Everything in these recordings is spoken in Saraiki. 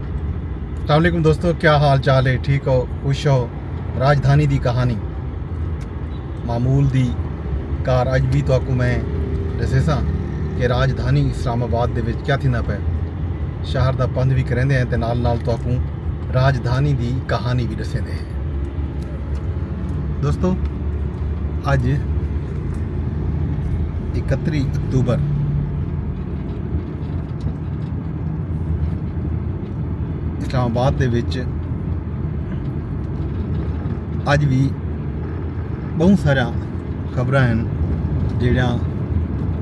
السلام علیکم دوستو کیا حال چال ہے ٹھیک ہو خوش ہو راجدھانی دی کہانی معمول دی کار اج بھی تو آکو میں دسے ساں کہ راجدھانی اسلام آباد دے وچ کیا تھینا پہ شہر دا پندھ بھی کریندے ہیں تے نال نال تو آکو راجدھانی دی کہانی بھی دسے دے ہیں دوستو اج اکتری اکتوبر اسلام آباد دے وچ اج وی بہوں سارا خبراں ہیں جیڑا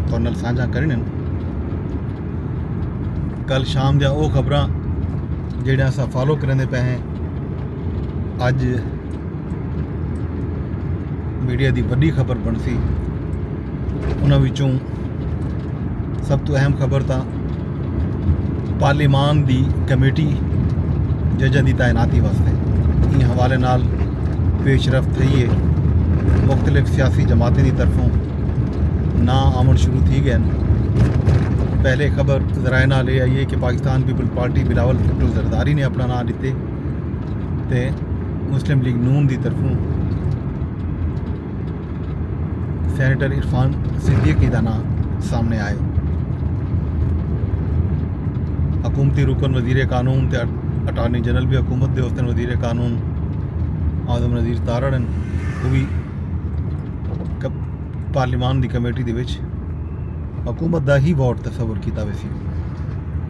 تھوڑے سانجھا کرنے کل شام دیا او خبراں جیڑا اسا فالو کرنے پہ ہیں اج میڈیا دی وڈی خبر بنسی انہاں وچوں سب تو اہم خبر تاں پارلیمان دی کمیٹی ججاں دی تعیناتی واسطے ان حوالے نال پیش رفت تھئی ہے مختلف سیاسی جماعتیں دی طرفوں نا آمن شروع تھی گئے پہلے خبر ذرائع نال یہ آئی ہے کہ پاکستان پیپل پارٹی بلاول بھٹو زرداری نے اپنا نام دیتے تے مسلم لیگ نون دی طرفوں سینیٹر عرفان صدیقی دا نام سامنے آئے حکومتی رکن وزیر قانون تے اٹارنی جنرل بھی حکومت دے حسن وزیر قانون آزم نظیر تارڑن وہ بھی پارلیمان دی کمیٹی دے وچ حکومت دا ہی ووٹ تصور کیتا ویسی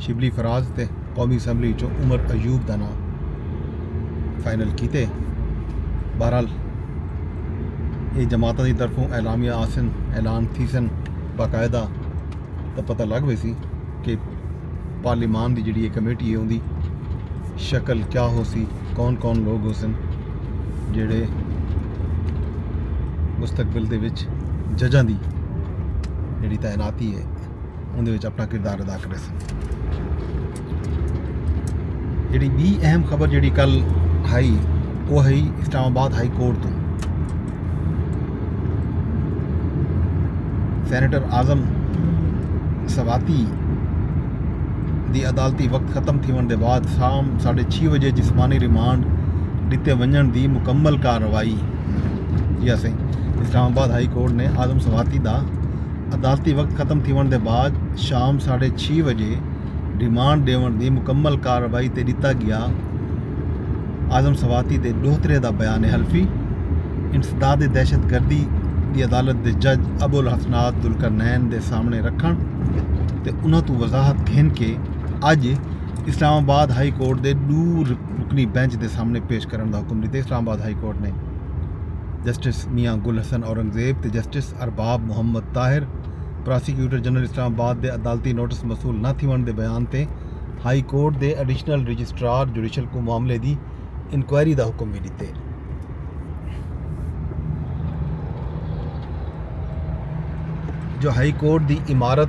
شبلی فراز تے قومی اسمبلی وچوں عمر ایوب دا ناں فائنل کیتے بہرحال یہ جماعتوں کی طرفوں اعلامیہ آسن اعلان تھی سن باقاعدہ تو پتہ لگ پی سی کہ پارلیمان کی جڑی یہ کمیٹی ہے ان کی شکل کیا ہو سی کون کون لوگ ہو سن جڑے مستقبل کے ججاں کی جڑی تعیناتی ہے اوندے وچ اپݨا کردار ادا کریسن۔ جیڑھی ٻی اہم خبر جیڑھی کل ہئی او ہئی اسلام آباد ہائی کورٹ توں سینیٹر اعظم سواتی دی عدالتی وقت ختم تھیوݨ دے بعد شام ساڑھے چھی وجے جسمانی ریمانڈ ݙتے ونڄݨ دی مکمل کارروائی جی اسیں اسلام آباد ہائی کورٹ نے اعظم سواتی دا عدالتی وقت ختم تھیونڑ دے بعد شام ساڈھے چھی وجے ریمانڈ ڈیونڑ دی مکمل کارروائی تے ڈتا گیا اعظم سواتی دے ڈوہترے دا بیان حلفی انسداد دہشت گردی دی عدالت دے جج ابوالحسنات ذوالقرنین دے سامنڑے رکھنڑ تے انہاں توں وضاحت گھن کے اج اسلام آباد ہائی کورٹ دے ڈو رکنی بینچ دے سامنڑے پیش کرنڑ دا حکم ڈتے اسلام آباد ہائی کورٹ نے جسٹس میاں گل حسن اورنگزیب تے جسٹس دوست Arbab Muhammad Tahir prosecutor general Islamabad دے عدالتی نوٹس موصول نہ تھیونڑ دے بیان تے ہائی کورٹ دے ایڈیشنل رجسٹرار جوڈیشل کوں معاملے دی انکوائری دا حکم وی ڈتے۔ جو ہائی کورٹ دی عمارت۔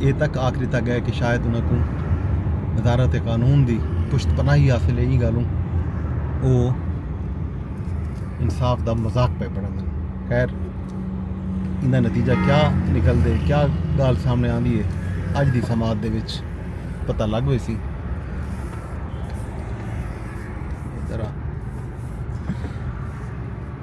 اے تک آکھ ݙتا ڳئے کہ شاید انہاں کوں وزارت قانون دی پشت پناہی حاصل اے ایں ڳالھوں او انصاف دا مذاق پئے بݨاندن خیر ایندا نتیجہ کیا نکلدے کیا ڳالھ سامنے آندی اے اڄ دی سماعت دے وچ پتہ لڳ ویسی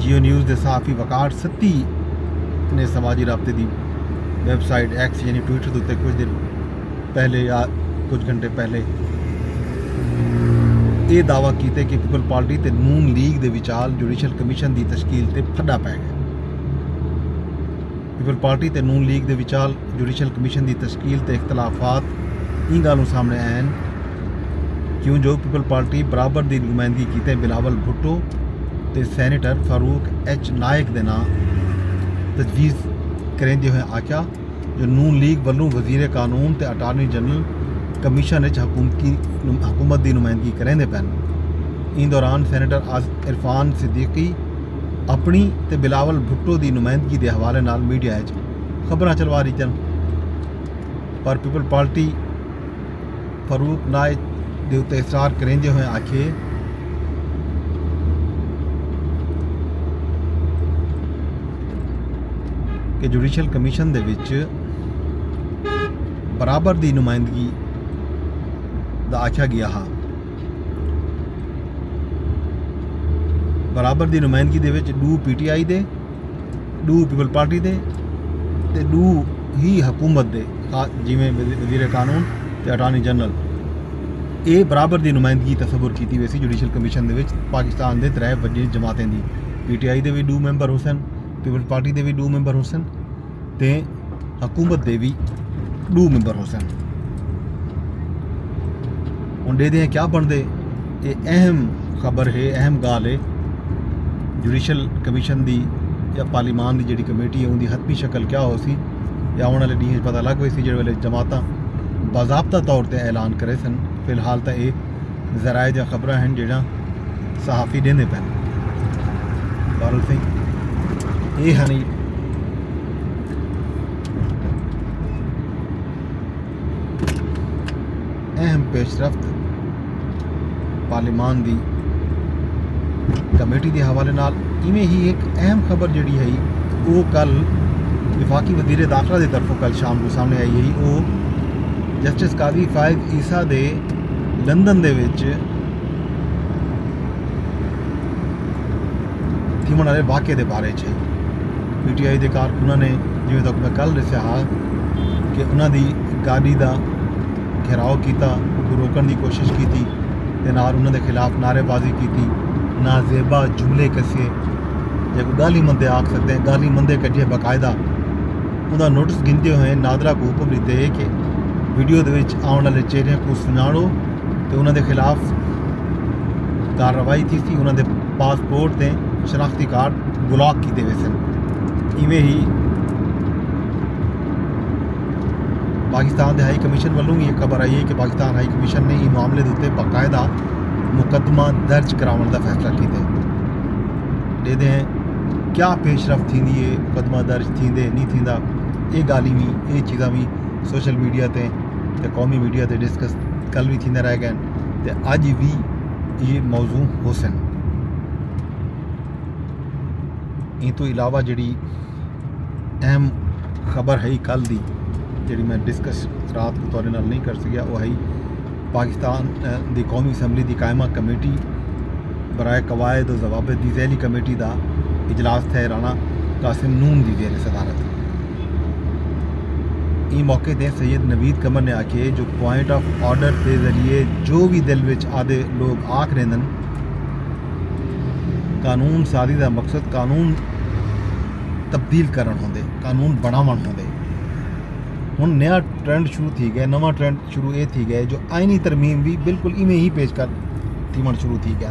جیو نیوز دے صحافی وقار ستی نے سماجی رابطے دی ویب سائٹ ایکس یعنی ٹویٹر دے اتنے کچھ دن پہلے یا کچھ گھنٹے پہلے یہ دعویٰ کیتے کہ پیپل پارٹی تے نون لیگ دے وچال جوڈیشل کمیشن دی تشکیل تے پھڈا پے گئے پیپلزپارٹی تے نون لیگ دے وچال جوڈیشل کمیشن دی تشکیل تے اختلافات ایں گالھوں سامنڑے آئے ہن کیوں جو پیپلزپارٹی برابر دی نمائندگی کیتے بلاول بھٹو تے سینیٹر فاروق ایچ نائیک دے ناں تجویز کریندے ہوئیں آکھیا جو نون لیگ ولوں وزیر قانون تے اٹارنی جنرل کمیشن اچ حکومت دی نمائندگی کریندے پن۔ ایں دوران سینیٹر عرفان صدیقی، اپنڑی تے بلاول بھٹو دی نمائندگی دے حوالے نال میڈیا اچ خبراں چلوا ڈتیاں پر پیپلز پارٹی فاروق نائیک دے اتے اصرار کریندے ہوئیں آکھیے کہ جوڈیشل کمیشن دے وچ برابر دی نمائندگی دا آکھیا گیا ہا۔ برابر دی نمائندگی دے وچ ݙو پی ٹی آئی دے ݙو پیپلز پارٹی دے تے ݙو ہی حکومت دے جیویں وزیر قانون تے اٹارنی جنرل اے برابر دی نمائندگی تصور کیتی ویسی جوڈیشل کمیشن دے وچ پاکستان دے ترے وݙی جماعتیں دی پی ٹی آئی دے وی ݙو ممبر ہوسن پیپلز پارٹی دے وی ݙو ممبر ہوسن تے حکومت دے وی ݙو ممبر ہوسن۔ ہݨ ݙیہدے ہیں کیا بݨدے اے اہم خبر ہے اہم ڳالھ ہے جوڈیشل کمیشن دی یا پارلیمان دی جیڑھی کمیٹی ہے اوندی حتمی شکل کیا ہوسی یا آوݨ آلے ݙینھ اچ پتہ لڳ ویسی جیڑھے ویلے جماعتاں باضابطہ طور تے اعلان کریسن فی الحال تاں اے ذرائع دیاں خبراں ہن جیڑھیاں صحافی ݙیندے پئن۔ بہرحال سئیں اے ہنی۔ اہم پیش رفت پارلیمان دی کمیٹی دے حوالے نال ایویں ہی ایک اہم خبر جڑی ہے وہ کل وفاقی وزیر داخلہ دے طرفوں کل شام کو سامنے آئی ہے وہ جسٹس قاضی فائد عیسیٰ دے لندن دے وچ تھیوݨ آلے واقعے دے بارے اچ ہئی۔ پی ٹی آئی دے کارکناں نے جیویں تک میں کل ݙسیا ہا کہ انہاں دی گاݙی دا گھیراؤ کیتا، اونکوں روکݨ دی کوشش کیتی تے نال انہاں دے خلاف نعرے بازی کیتی، نازیبا جملے کسیے جیکوں ڳالھیں مندے آکھ سڳدے آں، ڳالھیں مندے کڈھیے باقاعدہ اوندا نوٹس گھندے ہوئے نادرا کوں حکم ݙتے کہ ویڈیو دے وچ آوݨ آلے چہریاں کوں سنڄاݨو تے انہاں دے خلاف کارروائی تھیسی، انہاں دے پاسپورٹ تے شناختی کارڈ بلاک کیتے ویسن ایویں ہی پاکستان دے ہائی کمیشن ولوں بھی یہ خبر آئی ہے کہ پاکستان ہائی کمیشن نے یہ معاملے دے باقاعدہ مقدمہ درج کراؤن دا فیصلہ کیتے ہیں دے دے ہیں کیا پیش رفت تھی دی ہے مقدمہ درج تھی دے نہیں تھی دا یہ گالی بھی یہ چیزاں بھی سوشل میڈیا تے قومی میڈیا تے ڈسکس کل بھی تھی دے رہ گئے ہیں تے اج وی ایہ موضوع ہوسن۔ ایں توں علاوہ جیہڑی اہم خبر ہئی کل دی جیہڑی میں ڈسکس رات کوں تہاڈے نال نئیں کر سکیا اوہ ہئی پاکستان دی قومی اسمبلی دی قائمہ کمیٹی برائے قواعد و ضوابط دی ذیلی کمیٹی دا اجلاس تھئے رانا قاسم نون دی زیر صدارت۔ ایں موقع تے سید نوید قمر نے آکھیے جو پوائنٹ آف آرڈر دے ذریعے جو وی دل وچ آدھے لوگ آکھ ریندن قانون سازی دا مقصد قانون تبدیل کرن ہوندے قانون بناون ہوندے ہن نیا ٹرینڈ شروع تھی گیا نواں ٹرینڈ شروع اے تھی گیا جو آئینی ترمیم بھی بالکل ایویں ہی پیش کر تھیون شروع تھی گیا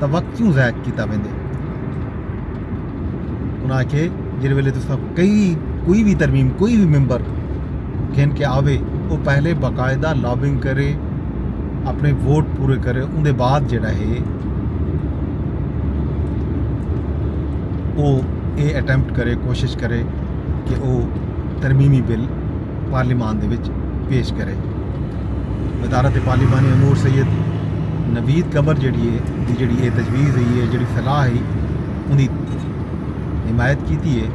تاں وقت کیوں ضائع کیتا ویندے انہاں آکھے جڑے ویلے تو سب کئی کوئی بھی ترمیم کوئی بھی ممبر گھن کے آوے وہ پہلے باقاعدہ لابنگ کرے اپنے ووٹ پورے کرے ان دے بعد جڑا ہے وہ اے اٹیمپٹ کرے کوشش کرے کہ وہ ترمیمی بل پارلیمان دے وچ پیش کرے وزارت پارلیمانی امور سید نوید قبر جیڑی ہے دی جیڑی یہ تجویز ہوئی ہے جیڑی صلاح ہے ان کی حمایت کیتی ہے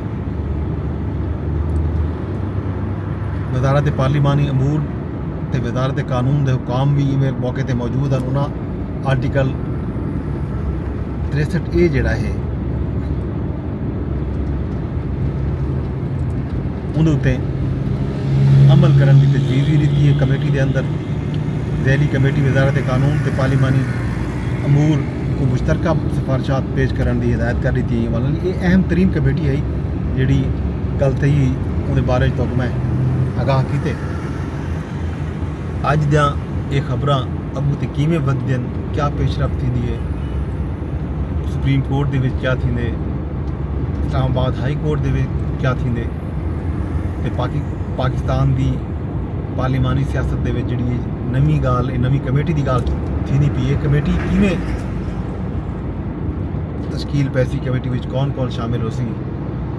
وزارت پارلیمانی امور تے وزارت قانون دے حکام بھی ایویں موقع تے موجود ہیں انہاں آرٹیکل 63 اے جڑا ہے اوندے اتے عمل کرݨ دی تجویز وی ݙتی اے، کمیٹی دے اندر ذیلی کمیٹی وزارت قانون تے پارلیمانی امور کوں مشترکہ سفارشات پیش کرݨ دی ہدایت کر ݙتی اے، ولے اے اہم ترین کمیٹی ہئی جیڑھی ڳالھ تھئی ہئی اوندے بارے اچ تہاکوں میں آگاہ کیتے۔ اڄ دیاں اے خبراں اڳوں تے کیویں ودھدین، کیا پیش رفت تھیندی اے، سپریم کورٹ دے وچ کیا تھیندے۔ اسلام آباد ہائی کورٹ دے کیا تھیندے تے پاکستان دی پارلیمانی سیاست دے جڑی نمی گال نمی کمیٹی دی گال تھیندی پی ہے کمیٹی کیویں تشکیل پیسی کمیٹی وچ کون کون شامل ہو سی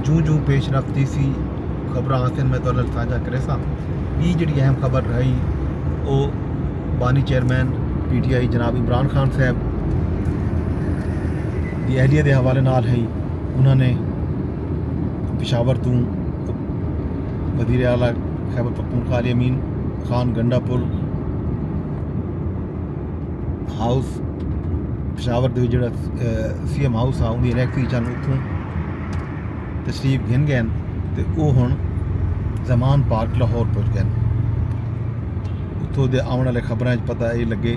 جوں جوں پیش رفت تھی سی خبر آسن میں تو سانجا کرے سا بی جڑی اہم خبر رہی او بانی چیئرمین پی ٹی آئی جناب عمران خان صاحب دی اہلیہ دے حوالے نال ہئی انہاں نے پشاور توں وزیر اعلی خیبر پختونخوا علی امین خان گنڈا پور ہاؤس پشاور دے جڑا سی ایم ہاؤس ہا اندی الیکٹری چن اتھوں تشریف گھن گئے تے او ہن زمان پارک لاہور پہنچ گئے اتھوں دے آون والے خبراں وچ پتہ اے لگے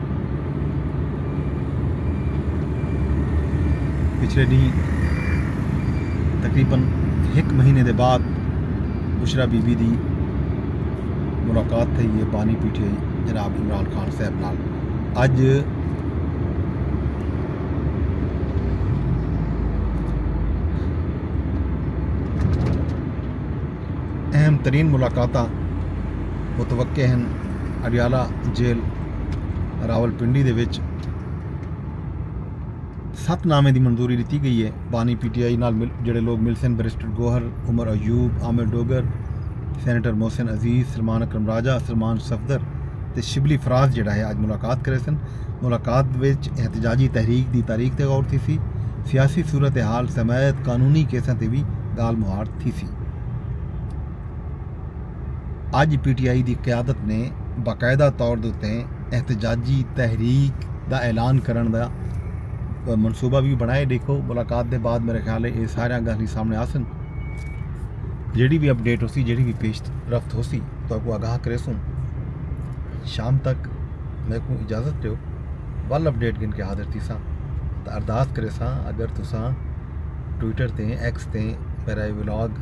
پچھلے ڈینہہ تقریباً ہک مہینے دے بعد بشرا بی بی دی ملاقات تھئی ہے پانی پیٹھے جناب عمران خان صاحب نال اج اہم ترین ملاقاتاں متوقع ہن، اڈیالہ جیل راولپنڈی دے وچ ست نامیں دی منظوری ڈتی گئی ہے، بانی پی ٹی آئی نال جیڑھے لوگ ملسن بیرسٹر گوہر، عمر ایوب، عامر ڈوگر، سینیٹر محسن عزیز، سلمان اکرم راجہ، سلمان صفدر تے شبلی فراز جیڑھا ہے اج ملاقات کریسن، ملاقات وچ احتجاجی تحریک دی تاریخ تے غور تھیسی، سیاسی صورتحال سمیت قانونی کیساں تے وی گالھ مہاڑ تھیسی۔ تھیسی۔ اڄ پی ٹی آئی دی قیادت نے باقاعدہ طور دے اتے احتجاجی تحریک دا اعلان کرݨ دا منصوبہ وی بݨائے ݙیکھو ملاقات دے بعد میرے خیال اے ساریاں ڳالھیں سامݨے آسن جیڑھی وی اپڈیٹ ہوسی جیڑھی وی پیش رفت ہوسی تہاکوں آگاہ کریسوں شام تک میکوں اجازت ݙیو ول اپڈیٹ گھن کے حاضر تھیساں تاں ارداس کریساں اگر تساں ٹویٹر تے ایکس تے میرا یہ ولاگ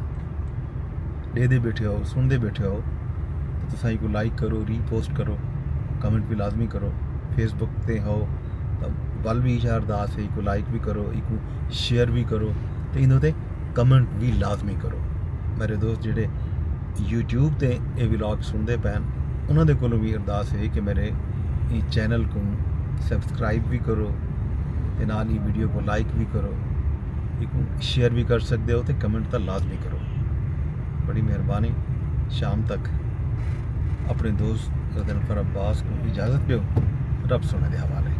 ڈے دے بیٹھے ہو سن دے بیٹھے ہو تو تساں کو لائک کرو ری پوسٹ کرو کمنٹ بھی لازمی کرو فیس بک تے ہو تو ول بھی اشار داس ہے کو لائک بھی کرو ایک شیئر بھی کرو تو انہوں تے کمنٹ بھی لازمی کرو میرے دوست جڑے یوٹیوب تے اے ولاگ سن دے پین انہوں دے کو بھی ارداس ہے کہ میرے چینل کو سبسکرائب بھی کرو تے نال ہی ویڈیو کو لائک وی کرو ایکوں شیئر وی کر سکدے ہو تے کمنٹ تاں لازمی کرو بڑی مہربانی شام تک اپنے دوست غزنفر عباس کو اجازت دیو رب سونے دے حوالے